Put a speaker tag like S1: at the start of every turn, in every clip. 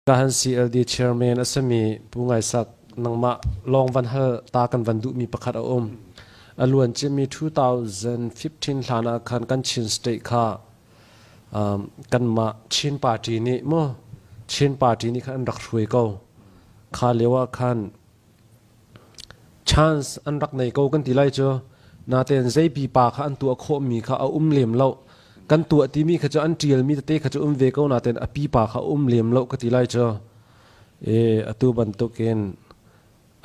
S1: Kahan CLD chairman a sami Pu Ngai Sak nangmah lawng van hal ta kan van duhmi pakhat a um. A luan cimmi 2015 hlan ah khan kan Chin state kha um, kanmah Chin party nih mu Chin party nih khan an rak hruai ko. Kha lio ah khan Chance an rak nei ko kan ti lai cu. Natein zei pipa kha an tuah khawhmi kha a um lem lo. Kan tuah timi kha cu an ṭialmi tete kha cu um ve ko natein a pipa kha um lem lo ka ti lai cu. E, atu bantukin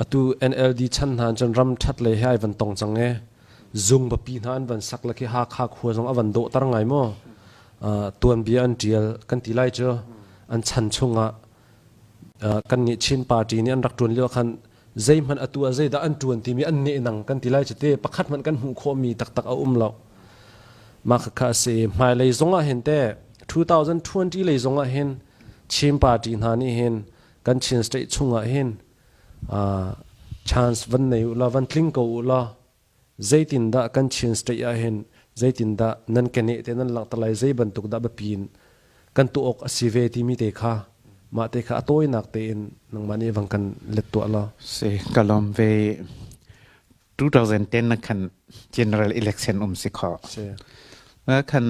S1: atu NLD chan hna cun ram ṭhat lei he ai van tong cang ee. Zung papi hna an van sak le khi Hakha khua zong a van dawhter ngai maw? Uh, tuanbia an ṭial kan ti lai cu. An chan chungah kannih Chin party nih an rak ṭuan lio khan zeihmanh atu ah zeidah an ṭuan timi an neh nang kan ti lai cu te pakhat hmanh kan hmuh khawhmi taktak a um lo mah khakha a si hmailei zongah hin te 2020 lei zongah hin Chin party hna nih hin kan Chin state chungah hin chance van nei u la van tling ko u la Zeitindah kan Chin State ahhin zeitindah nan keneh te nan langhter lai zei bantuk dah biapi in kan tuah awk a si ve timi te kha mah te kha a tawinak tein nangmah nih vang kan let tuah law si ka lawm ve 2010 na khan general election um si kho si na khan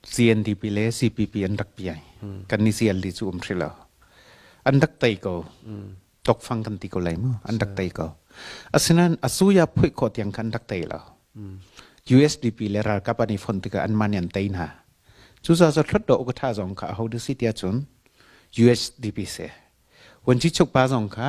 S1: CNDP le CPP an rak piai. Kan ni CLD cu um hri lo. An rak tei ko. Tokfang kan ti ko lai mu. An rak tei ko. Asinain asuya phuih khawh tiang khan rak tei lo. USDP le ralkap an i fon tikah an man an tei hna. Cucaah cu hlot do ka tha zong kha a ho da si tiah cun USDP se. Wanci chukpa zong kha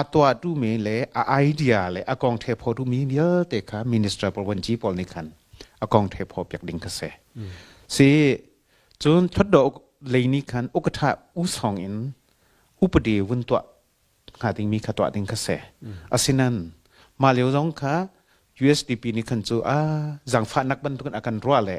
S1: a tuahtu le a idea le a kong the pho tu mi vialte kha minister parwanci pawl nih khan a kong the pho piak ding ka se si cun thotdo lei ni khan ukatha usong in upade vun tua nga ding mi kha tua ding ka se asinan ma leo zong kha USDP ni khan chu a zangfa nak bantukin akan ruwa le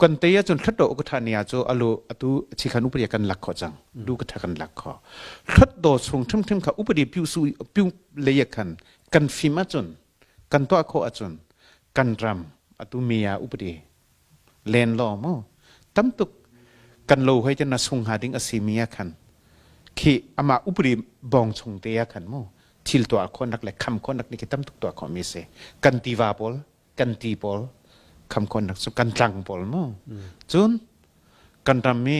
S1: kan te ahcun thlat dawh ka thani ah cu alu atu chi khan upadi kan lak kho cang du ka tha kan lak kho thlat do chung thim thim kha upadi piu su piu le khan kan fim ahcun kan to kho ahcun kan ram atu mia upadi len lo mo tamtuk kan lo hoi chen na sung ha ding asi mia khan khi ama upri bong chung te ya khan mo thil to khon nak le kham khon nak ni ki tam tuk to kho mi se kan tiva pol kan ti pawl khamkon rak cu kan tlang pawl mu cun kan ram i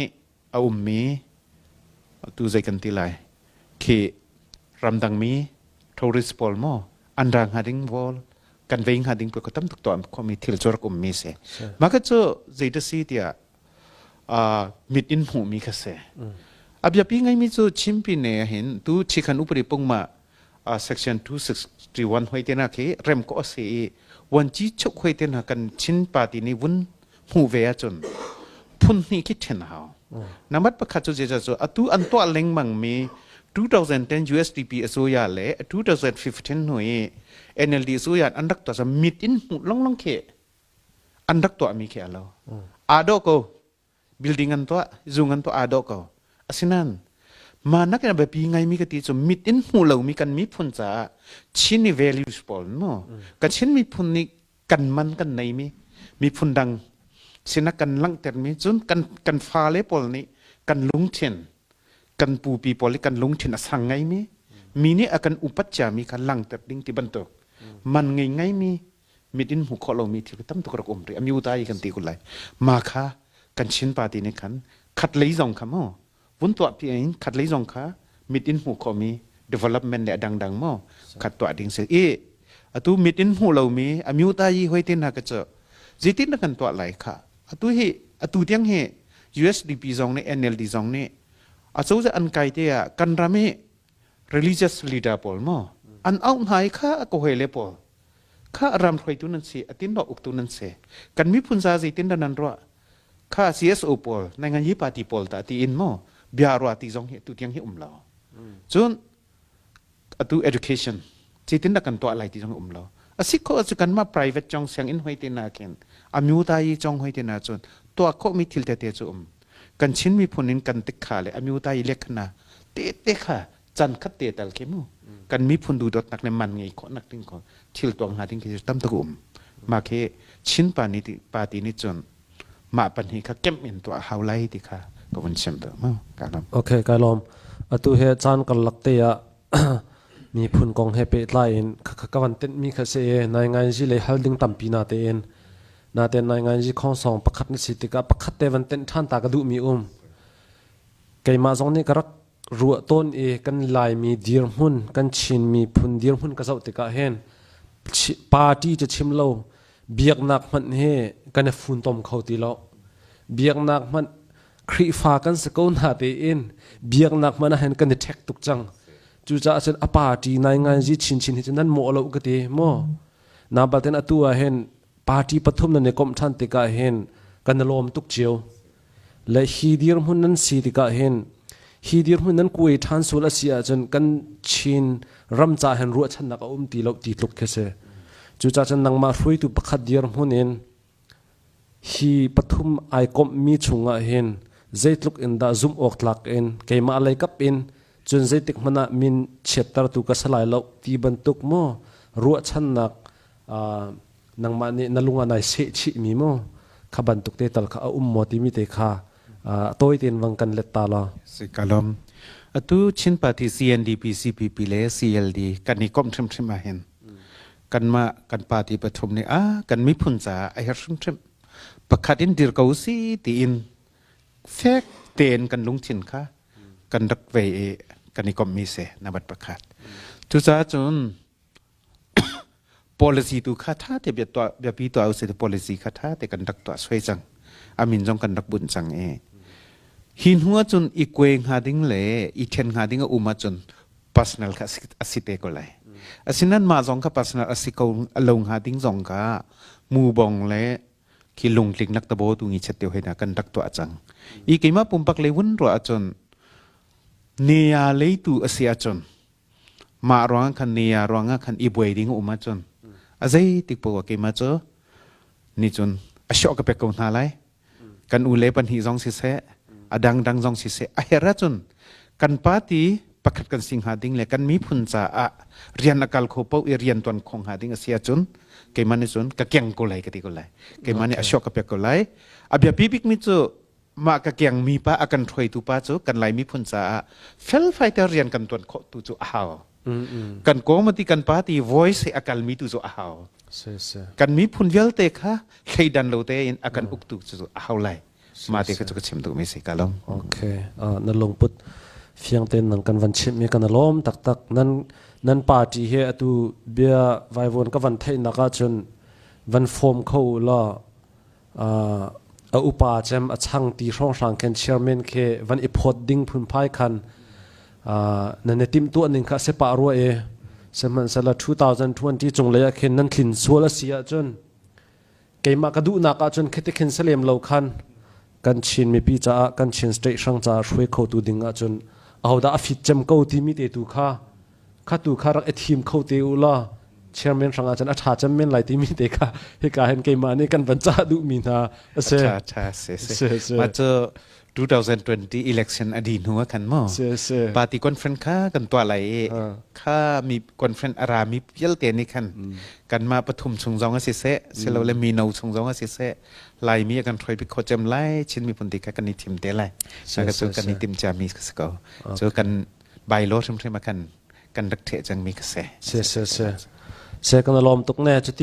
S1: a ummi tu zei kan ti lai khi ramdang mi tourist pawl mo an ra hnga ding vol kan vei hnga ding ko tam tuk to am khomi thil cu rak ummi se ma ka cu zei ta si tia a mit in hmuhmi kha se abia pi ngai mi cu chimpi ne hin tu chikhan upari pungma section 261 hoi te na khi rem ko ase i wanchi chuk hoi te na kan chin party ni vun hmu ve a chun phun ni khi then hao namat pakhat chu je chu atu an to lengmang mi 2010 USDP asuya le 2015 hui NLD asuya an rak to sa mit in mu long long ke an rak to mi ke alo ado ko building an tuah zung an tuah aa dawh ko asinain mah nak in a biapi ngaimi ka ti cu mit in hmuh lomi kan miphun caah Chin i values pawl no ka Chin miphun nih kan man kan neimi miphun dang sinak kan langhtermi cun kan kan fale pawl nih kan lungthin kan pupi pawl i kan lungthin a sang ngaimi mi nih a kan upat ciami kha langhter ding ti bantuk man ngei ngaimi mit in hmuh khawh lomi thil tam tuk rak um rih a myu ta i kan ti kun lai ma kha kan chin party nih khan khat lei zong kha maw vun tuah pi in khat lei zong kha mit in hmuh khawhmi development le dangdang maw khat tuah ding se i atu mit in hmuh lomi a myu ta yi hoi tin ha ka cu zitin na kan tuah lai kha atu hi atu tiang hi USDP zong nih NLD zong nih a cozah an kai te ah kan ram hi religious leader pawl maw an auh hna i kha ko he le pawl kha ram hruaitu nan si atin ro uktu nan si kan miphun za zeitin da nan ruah kha CSO pawl nai ngan hi party pawl ta ti in mo bia rua ti zong hi tu tiang hi um lo cun atu education Zeitindah kan tuah lai ti zong a um lo. A si khawh cu kanmah private cong sianginn hoi te nakin a myutayi cong hoi te nacun tuah khawhmi thil tete cu um. Kan Chin miphun in kan tikha le a myutayi lekhna tete kha can khat te tal khi mu kan miphun duhdawtnak le man ngei khawhnak ding ko thil tuang hna ding khi cu tam tuk um. Mah khi Chin pa nih party nih cun mah pahnih kha kemh in tuah hau lai ti kha ka vun chimh deuh mu. Ka lawm. Okay, ka lawm. Atu he caan karlak te ah Miphun kong he pehtlai in ka van tenhmi kha si i nainganzi lei hal ding tampi na tein na tein nainganzi khongsong pakhat na si tikah pakhat te van tenh ṭhan ta ka duhmi um. Keimah zong nih ka rak ruah tawn i kan Laimi dirhmun kan Chin miphun dirhmun ka zoh tikah hin party ca chim lo biaknak hmanh hi kan i funtom kho ti lo. Biaknak hmanh Khrihfa kan si ko na tein biaknak man ah hin kan i ṭhek tuk cang. Cucaah cun a pa ṭi naingai zi chinchin hi cu nan mawh lo ka ti maw? Na batin atu ah hin party pathum nan i komh ṭhan tikah hin kan i lawm tuk cio. Le hi dirhmun nan si tikah hin hi dirhmun nan kuai ṭhan sual a si ahcun kan Chin ram ca hin ruahchannak a um ti lo ti tluk khi si. Cucaah cun nangmah hruaitu pakhat dirhmun in Hi pathum ai komhmi chungah hin zeitluk in dah zumh awk tlak in keimah lei kap in cun zeitik hmanh ah min chiattertu ka si lai loh ti bantuk maw ruahchannak nangmah nih na lung ah nai sehchihmi maw kha bantuk te tal kha a um maw timi te kha a tawi tein vang kan let ta law. Si ka lawm. Atu Chin Party CNDP CPP le CLD kan i komh hrimhrim ahhin kanmah kan party pathum nih a kan miphun caah a herh hrimhrim pakhat in dir ko si tiin fek tein kan lungthin kha kan rak ve i kan i kommi se nabat pakhat cucaah cun policy tu kha tha te bia tuah biapi tuah usai te policy kha tha te kan rak tuah soi cang amin zong kan rak bunh cang i hi hnu cun i kwe hnga ding le i then hnga ding a um ahcun personal kha a si te ko lai asinan mah zong kha personal a si ko lo hnga ding zong ka mu bong le khi lungtling nak tabo tu ngi chet teo hena kan rak to a chang i keima pumpak le wun ro achon neya leitu asi achon ma ruang khan neya ruanga khan i buai ding uma chon azai tikpo wa keima cho ni chun asho ka pek ko na lai kan u le pahnih zong siseh a dangdang zong siseh a her ahcun kan party pakhat kan si hnga ding le kan miphun caah rian a kal kho po i rian tuan khong hnga ding a si ahcun keimah nih cun ka keng ko lai ka ti ko lai keimah nih a shock ka pek ko lai a bia bik mi cu mah ka keng mi pa a kan hruaitu pa cu kan lai miphun caah felfai te rian kan tuan khawh tu cu a hau kan comedy kan party voice he a kalmi tu cu a hau kan miphun vialte kha thleidan lo tein a kan uktu cu a hau lai ma te ka chu ka chim tu mi si ka lom okay na lungput fiang ten nang kan van chim mi kan lom tak tak nan nan party he atu bia vaivon ka van thei naka chun van form kho la a upa cem a chang ti hrawnghrang khen chairman khe van i phawt ding phunphai khan na ne tim tuah ning kha se pa ruwa e sehmanhsala 2020 chung lei ah khin nan thlin sual a si ahcun keimah ka duhnak ahcun khete khin selem lo khan kan chin mipi caah kan chin state hrang caah hruai khotu ding ahcun ahodah a fit cem ko timi te tu kha kha tu kha rak i thim kho te u law chairman hrangah cun a ṭha cem men lai timi te kha hika hin keimah nih kan van cah duhmi hna a si. Ṭha ṭha si si. Si si. Mah cu 2020 election a di hnu a kan mo. Si si. Party conference kha kan tuah lai i kha mi conference a rami vialte nih khan kanmah pathum chung zong a si seh silo le mino chung zong a si seh laimi a kan hroi pi kho cem lai Chin miphun ti kha kan i thim te lai. Si, Maka cu si, kan si. i timcia mi ka si ko. Cu kan Bylaw hrimhrim ah kan kan rak ṭheh cangmi kha si. Si, si, si. Si, kan lawm tuk ne. Cuti